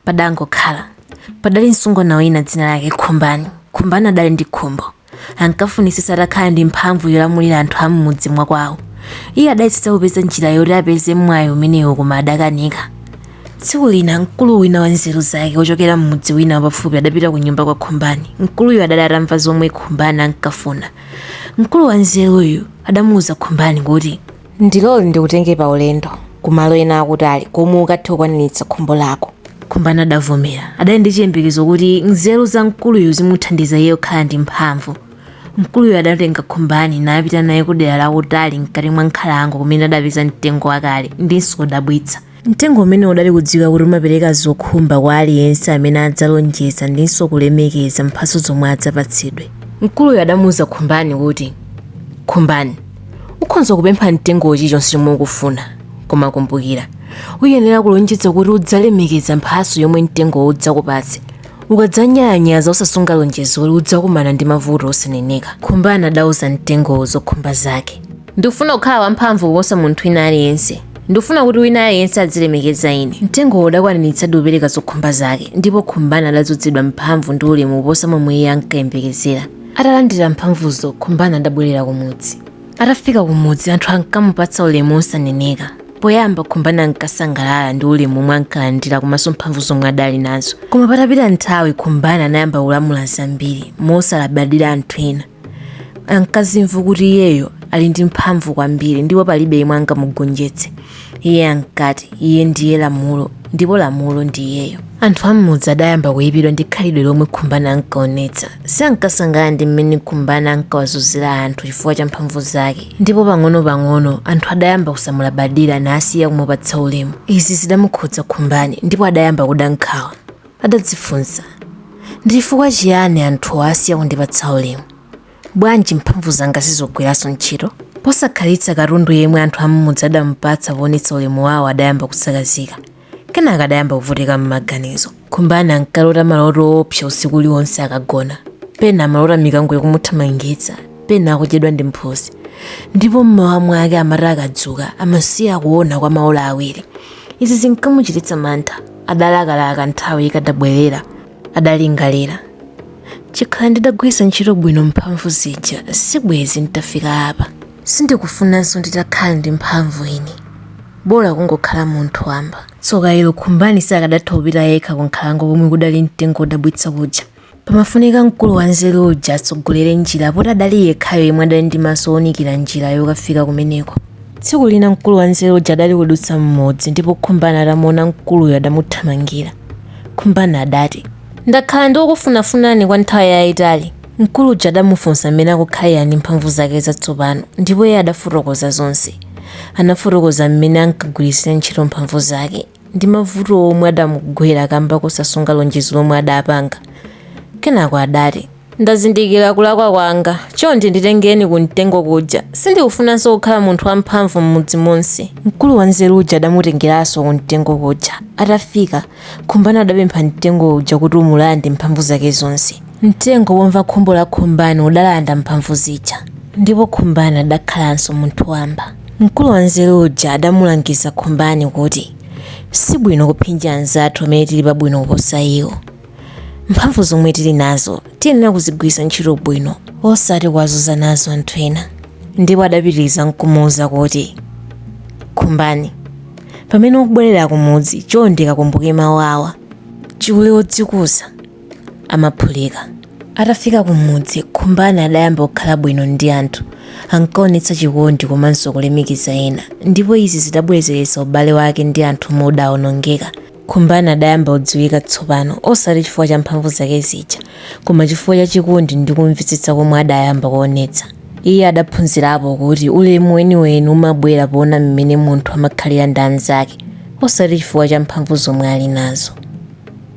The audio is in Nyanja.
padangokhala padali msungwana wina dzina lake khumbani khumbani adali ndi khumbo ankafunisisa atakhala ndi mphamvu yolamulira anthu a m'mudzi mwa kwawo iye adayesesa kupeza njira yoti apeze mwayi umenewo koma adakanika tsiku lina mkulu wina wa nzeru zake wochokera m'mudzi wina wapafupi adapita ku nyumba kwa khumbani mkuluyu adali atamva zomwe khumbani ankafuna mkulu wa nzeruyu adamuwuza khumbani kuti Ndilole ndikutenge pa ulendo Ku malo ena akutali komwe ukathe kukwaniritsa khumbo lako. Khumbani adavomera. Adali ndi chiyembekezo kuti nzeru za mkuluyu zimuthandiza iye kukhala ndi mphamvu. Mkuluyu adatenga Khumbani napita naye kudera lakutali mkati mwa nkhalango kumene adapeza mtengo wakale ndinso wodabwitsa. Mtengo umene udali kudziwika kuti umapereka zokhumba kwa aliyense amene adzalonjeza ndinso kulemekeza mphatso zomwe adzapatsidwe. Mkuluyo adamuuza Khumbani kuti, Khumbani, ukhonza kupempha mtengowo chilichonse chomwe ukufuna, koma kumbukira, uyenera kulonjeza kuti udzalemekeza mphatso yomwe mtengowo udzakupatse. Ukadzanyalanyaza osasunga lonjezo kuti udzakumana ndi mavuto osaneneka. Khumbani adauza mtengowo zokhumba zake. Ndikufuna kukhala wamphamvu kuposa munthu wina aliyense. Ndikufuna kuti wina aliyense adzilemekeza ine. Mtengowo udakwaniritsadi kupereka zokhumba zake, ndipo Khumbani adadzodzedwa mphamvu ndi ulemu kuposa momwe iye ankayembekezera. Atalandira mphamvuzo, Khumbani adabwerera kumudzi. Atafika kumudzi, anthu ankamupatsa ulemu wosaneneka. Poyamba Khumbani ankasangalala ndi ulemu womwe ankalandira komanso mphamvu zomwe adali nazo. Koma patapita nthawi, Khumbani anayamba kulamula zambiri, mosalabadira anthu ena. ankazimva kuti iyeyo ali ndi mphamvu kwambiri ndipo palibe yemwe angamugonjetse iye ankati iye ndiye lamulo ndipo lamulo ndi iyeyo anthu am'mudzi adayamba kuyipidwa ndi khalidwe lomwe khumbani ankaonetsa sankasangalala ndi mmene khumbani ankawazunzira anthu chifukwa cha mphamvu zake ndipo pang'ono-pang'ono anthu adayamba kusamulabadira nasiya kumupatsa ulemu izi zidamukhudza khumbani ndipo adayamba kuda nkhawa Adadzifunsa, Ndi chifukwa chiyani anthuwa asiya kundipatsa ulemu? Bwanji mphamvu zanga sizikugwiranso ntchito? Posakhalitsa katundu yemwe anthu am'mudzi adamupatsa poonetsa ulemu wawo adayamba kusakazika. Kenaka adayamba kuvutika m'maganizo. Khumbani ankalota maloto oopsa usiku uliwonse akagona. Pena amalota mikango ikumuthamangitsa, pena akudyedwa ndi mphutsi. Ndipo m'mawa mwake amati akadzuka amasiya kuona kwa maola awiri. Izi zinkamuchititsa mantha. adalakalaka nthawi ikadabwerera adalingalira chikhala ndidagwiritsa ntchito bwino mphamvu zija sibwezi nditafika apa sindikufunanso nditakhala ndi mphamvu ine bola kungokhala munthu wamba tsoka ilo khumbani sakadatha kupita yekha ku nkhalango komwe kudali mtengo wodabwitsa kuja Pamafunika mkulu wanzeru uja atsogolere njira poti adali yekhayo yemwe adali ndi maso owunikira njira yokafika kumeneko. Tsiku lina mkulu wanzeru uja adali kudutsa m'mudzi ndipo Khumbani atamuona mkuluyo adamuthamangira. Khumbani adati, Ndakhala ndikukufunafunani kwa nthawi yayitali. Mkulu uja adamufunsa mmene akukhalira ndi mphamvu zake zatsopano ndipo iye adafotokoza zonse. Anafotokoza mmene ankagwiritsira ntchito mphamvu zake. ndi mavuto omwe adamugwera kamba kosasunga lonjezo lomwe adapanga. Kenako adati. Ndazindikira kulakwa kwanga. Chonde nditengeni kumtengo kuja. Sindikufunanso kukhala munthu wamphamvu m'mudzi monse. Mkulu wanzeru uja adamutengeranso kumtengo kuja. Atafika, Khumbani adapempha mtengo uja kuti umulande mphamvu zake zonse. Mtengo womva khumbo la Khumbani udalanda mphamvu zija ndipo Khumbani adakhalanso munthu wamba. Mkulu wanzeru uja adamulangiza Khumbani kuti, Si bwino kuphinja anzathu amene tili pabwino kuposa iwo. Mphamvu zomwe tili nazo tiyenera kuzigwiritsa ntchito bwino osati kuwazunza nazo anthu ena. Ndipo adapitiriza n'kumuuza kuti, Khumbani, pamene ukubwerera kumudzi chonde kakumbuke mawu awa, Chule wodzikuza amaphulika. Atafika kumudzi, Khumbani adayamba kukhala bwino ndi anthu, ankaonetsa chikondi komanso kulemekeza ena ndipo izi zidabwezeretsa ubale wake ndi anthu omwe udaonongeka. Khumbani adayamba kudziwika tsopano osati chifukwa cha mphamvu zake zija koma chifukwa cha chikondi ndi kumvetsetsa komwe adayamba kuonetsa. Iye adaphunzirapo kuti ulemu weniweni umabwera poona mmene munthu amakhalira ndi anzake osati chifukwa cha mphamvu zomwe ali nazo.